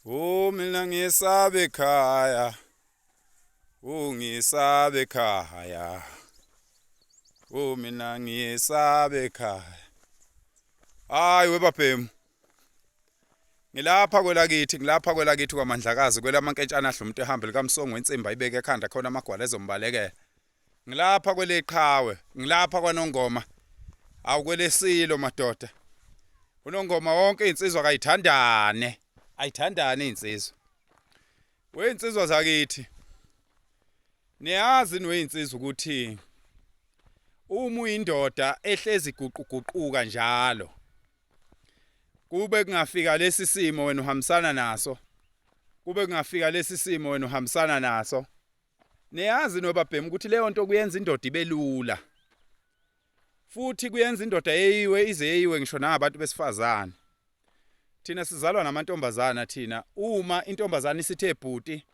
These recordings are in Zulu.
Oh mina ngisabe ekhaya Oh ngisabe ekhaya Oh mina ngisabe ekhaya Hayi webabhemu Ngilapha kwelakithi ngilapha kwelakithi kwaMandlakazi kwelamankentshana adla umuntu ehamba likaMsongo wensimba ibeke ekhanda khona amagwala ezombalekela Ngilapha kweleqhawe, ngilapha kwanongoma. Awu kwelesilo madoda. Unongoma wonke insizwa kayithandane. Ayithandane insizwa. Weyinsizwa zakithi. Niyazi niweyinsizwa ukuthi uma uyindoda ehlezi guquguquka njalo kube kungafika lesi simo wena uhambisana naso kube kungafika lesi simo wena uhambisana naso Niyazi nobabhemu ukuthi leyo nto kuyenza indoda ibe lula. Futhi kuyenza indoda yeyiwe ize yeyiwe ngisho nangabantu besifazane. Thina sizalwa namantombazana thina uma intombazana isithe bhuti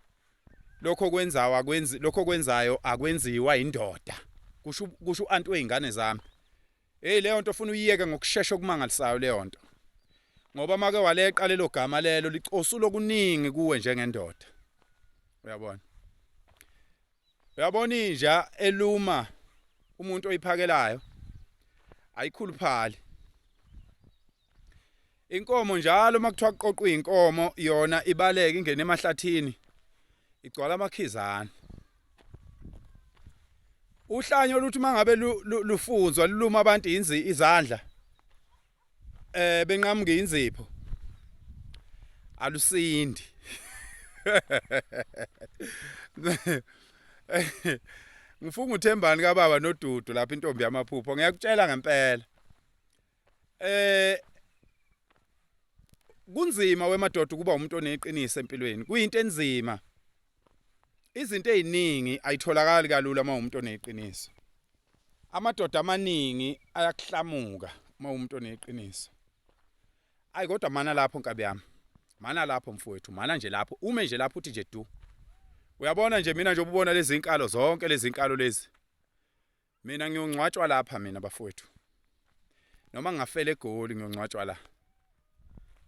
lokho kwenzawa kwenzi lokho kwenzayo akwenziwa indoda. Kusho kusho uanti weingane zami. Hey leyo nto ufuna uyiyeke ngokushesha okumangalisayo leyo nto. Ngoba make waleqa lelo gama lelo licosulo kuningi kuwe njengendoda. Uyabona? Uyabona inja eluma umuntu oyiphakelayo ayikhuluphali. inkomo njalo uma kuthiwa kuqoqwa iy'nkomo yona ibaleke ingene emahlathini igcwala amakhizane uhlanyo oluthi uma ngabe lufunzwa luluma abantu izandla eh benqamuke inzipho alusindi ngifunga uthembani kababa nodudu lapha intombi yamaphupho ngiyakutshela ngempela eh kunzima wemadoda ukuba umuntu oneqiniso empilweni kuyinto enzima izinto eziningi ayitholakali kalula uma umuntu oneqiniso amadoda amaningi ayakuhlamuka uma umuntu oneqiniso ayi kodwa mana lapho nkabi yami mana lapho mfowethu mana nje lapho ume nje lapho uthi nje du uyabona nje mina nje ububona lezi nkalo zonke lezi nkalo lezi Mina ngiyongcwatshwa lapha mina bafowethu. Noma ngingafela eGoli ngiyongcwatshwa la.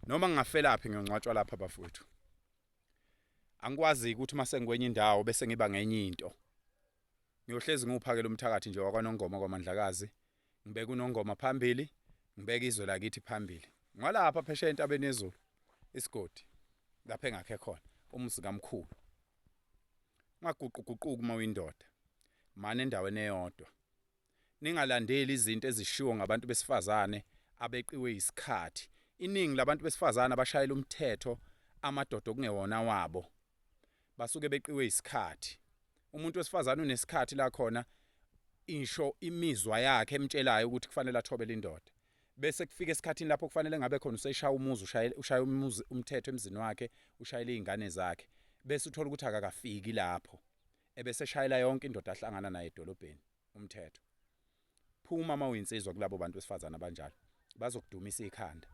Noma ngingafela phi ngiyongcwatshwa lapha bafowethu. Angikwazi ukuthi uma sengikwenye indawo bese ngiba ngenye into. Ngiyohlezi ngiwuphakela umthakathi nje wakwaNongoma kwaMandlakazi. Ngibeka uNongoma phambili, ngibeka izwe lakithi phambili. Ngwalapha phesheya entabeni yezulu isigodi lapha engakhe khona umuzi kamkhulu. Ungaguquguquki uma uyindoda. Mane endaweni eyodwa. Ningalandeli izinto ezishiwo ngabantu besifazane abeqiwe yisikhathi. Iningi labantu besifazane abashayela umthetho amadoda okungewona awabo basuke beqiwe yisikhathi. Umuntu wesifazane unesikhathi la khona isho imizwa yakhe emtshelayo ukuthi kufanele athobele indoda. bese kufika esikhathini lapho kufanele ngabe khona useshaya umuzi ushaya umuzi umthetho emzini wakhe ushayela izingane zakhe bese uthola ukuthi akakafiki lapho ebese shayela yonke indoda ahlangana naye edolobheni umthetho phuma uma uyinsizwa kulabo bantu besifazana abanjalo bazokudumisa ikhanda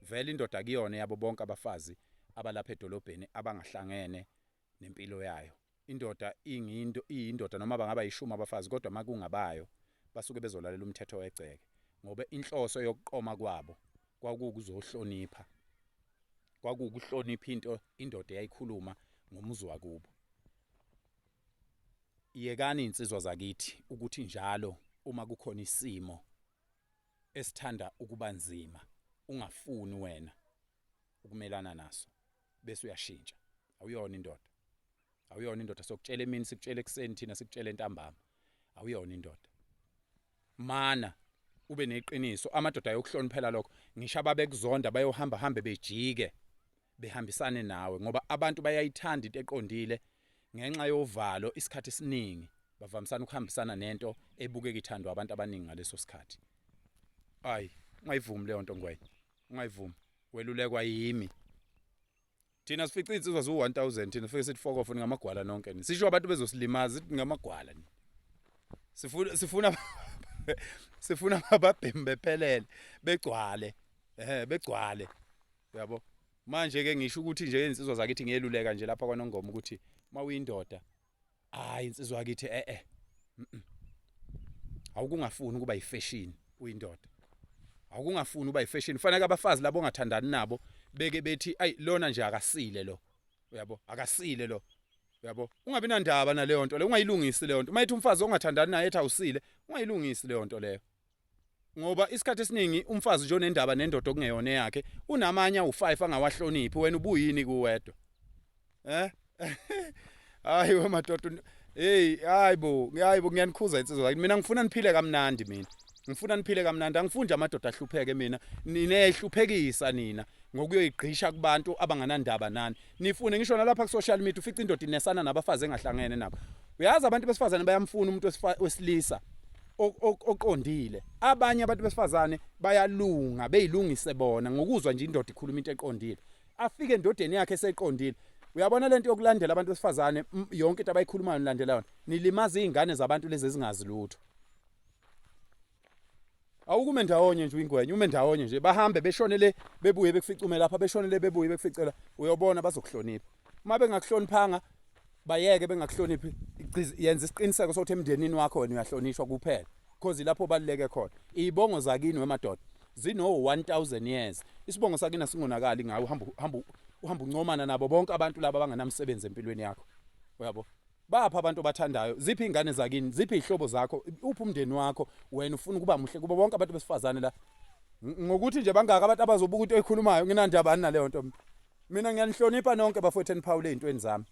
vele indoda kuyona yabo bonke abafazi abalapha edolobheni abangahlangene nempilo yayo indoda ingindo iyindoda noma bangaba ishumi abafazi kodwa makungabayo basuke bezolalela umthetho wegceke ngoba inhloso yokuqoma kwabo kwakukuzohlonipha kwakukuhlonipha into indoda eyayikhuluma ngomuzi wakubo yekani insizwa zakithi ukuthi njalo uma kukhona isimo esithanda ukubanzima ungafuni wena ukumelana naso bese uyashintsha awuyona indoda awuyona indoda sokutshela emini sikutshela ekuseni thina sikutshela entambama awuyona indoda mana ube neqiniso amadoda ayokuhloniphela lokho ngisho ababekuzonda bayohamba hambe bejike behambisane nawe ngoba abantu bayayithanda into eqondile ngenxa yovalo isikhathi esiningi bavamisana ukuhambisana nento ebukeka ithandwa abantu abaningi ngaleso sikhathi ayi ungayivumi leyo nto ngwenya ungayivumi welulekwa yimi thina sifica insizwa zu 1000 thina fike sithi fokofo ningamagwala nonke ni sisho abantu bezosilimaza ithi ningamagwala ni sifuna sifuna sifuna ababhemi bephelele begcwale eh begcwale uyabo manje ke ngisho ukuthi nje insizwa zakithi ngiyeluleka nje lapha kwanongoma ukuthi mawuyindoda hayi insizwa yakithi eh eh awukungafuni ukuba yifashion uyindoda awukungafuni uba yifashion fanele abafazi labo ongathandani nabo beke bethi ayi lona nje akasile lo uyabo akasile lo uyabo ungabi nandaba naleyo nto leyo ungayilungisi leyo nto uma ethi umfazi ongathandani naye ethi awusile ungayilungisi leyo nto leyo ngoba isikhathi esiningi umfazi nje onendaba nendoda okungeyona yakhe unamanye awu5 angawahloniphi wena ubuyini kuwedwa eh hayi wemadoda hey hayibo hayibo ngiyanikhuza insizwa yakini mina ngifuna niphile kamnandi mina ngifuna niphile kamnandi angifunde amadoda ahlupheke mina ninehluphekisa nina ngokuyoyigqisha kubantu abanganandaba nani nifune ngisho nalapha ku social media ufica indoda inesana nabafazi engahlangene nabo uyazi abantu besifazane bayamfuna umuntu wesilisa oqondile abanye abantu besifazane bayalunga beyilungise bona ngokuzwa nje indoda ikhuluma into eqondile afike endodeni yakhe eseqondile uyabona lento yokulandela abantu besifazane yonke into abayikhulumayo nilandela yona nilimaza izingane zabantu lezi ezingazi lutho awukume ndawonye nje uyingwenya ume ndawonye nje bahambe beshonele bebuye bekuficume lapha beshonele bebuye bekuficela uyobona bazokuhlonipha uma bengakuhloniphanga bayeke bengakuhloniphi yenza isiqiniseko sokuthi emndenini wakho wena uyahlonishwa kuphela cause ilapho obaluleke khona iy'bongo zakini wemadoda zino-1000 years isibongo sakini asingonakali ngayo uhamba uncomana nabo bonke abantu laba abangenamsebenzi empilweni yakho uyabo bapha abantu obathandayo ziphi iy'ngane zakini ziphi iy'hlobo zakho uphi umndeni wakho wena ufuna ukuba muhle kubo bonke abantu besifazane la ngokuthi nje bangaka abantu abazobuka into eyikhulumayo nginandaba ani naleyo nto mina Mina ngiyanihlonipha nonke bafowethu eniphawule ezintweni zami.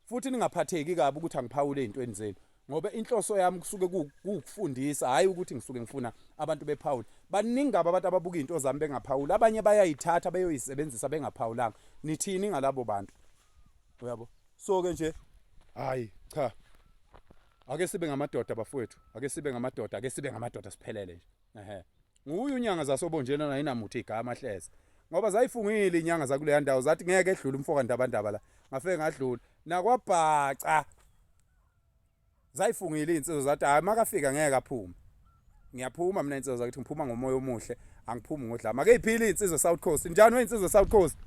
Futhi ningaphatheki kabi ukuthi angiphawule ezintweni zenu ngoba inhloso yami kusuke ukufundisa hayi ukuthi ngisuke ngifuna abantu bephawule. Baningi kabi abantu ababuka izinto zami bengaphawuli. Abanye bayayithatha beyoyisebenzisa bengaphawulanga. Nithini ngalabo bantu? Uyabo? So ke nje hayi cha. Ake sibe ngamadoda bafowethu. Ake sibe ngamadoda, ake sibe ngamadoda siphelele nje. Ehhe. Nguye unyanga zasobonjeni onayinamuthe igama hleze. Ngoba zayifungile inyanga zakuleya ndawo zathi ngeke edlule umfoka ndabandaba la. Ngafike ngadlula. Nakwabhaca. Zayifungile insizwa zathi hayi makafika ngeke aphume. Ngiyaphuma mina insizwa zakuthi ngiphuma ngomoya omuhle, angiphumi ngodlama. Ake iphile insizwa South Coast. Njani weyinsizwa South Coast?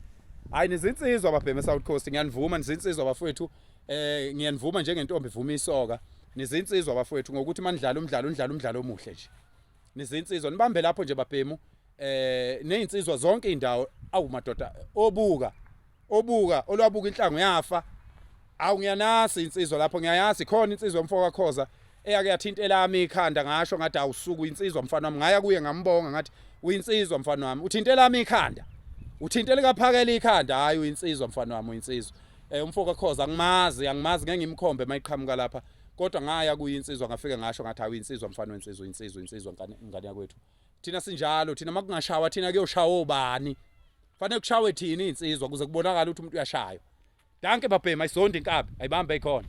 Hayi nizinsizwa babheme South Coast. Ngiyanivuma nizinsizwa bafowethu. Eh ngiyanivuma njengentombi ivuma isoka. Nizinsizwa bafowethu ngokuthi manidlala umdlalo, nidlala umdlalo omuhle nje. nizinsizwa nibambe lapho nje babhemu eh nezinsizwa zonke indawo awu madoda obuka obuka olwabuka inhlango yafa awu ngiyanasi insizwa lapho ngiyayazi khona insizwa mfo kakhoza eyake yathinta elami ikhanda ngasho ngathi awusuku insizwa mfana wami ngaya kuye ngambonga ngathi uyinsizwa mfana wami uthinta elami ikhanda uthinta likaphakela ikhanda hayi uyinsizwa mfana wami uyinsizwa eh umfo kakhoza angimazi angimazi ngeke ngimkhombe mayiqhamuka lapha kodwa ngaya kuyinsizwa ngafike ngasho ngathi hawu insizwa mfana wensizwa insizwa insizwa ngane yakwethu thina sinjalo thina makungashawa thina kuyoshawa obani fanele kushawe thina insizwa kuze kubonakala ukuthi umuntu uyashayo danke babhema isonde inkabi ayibambe ikhona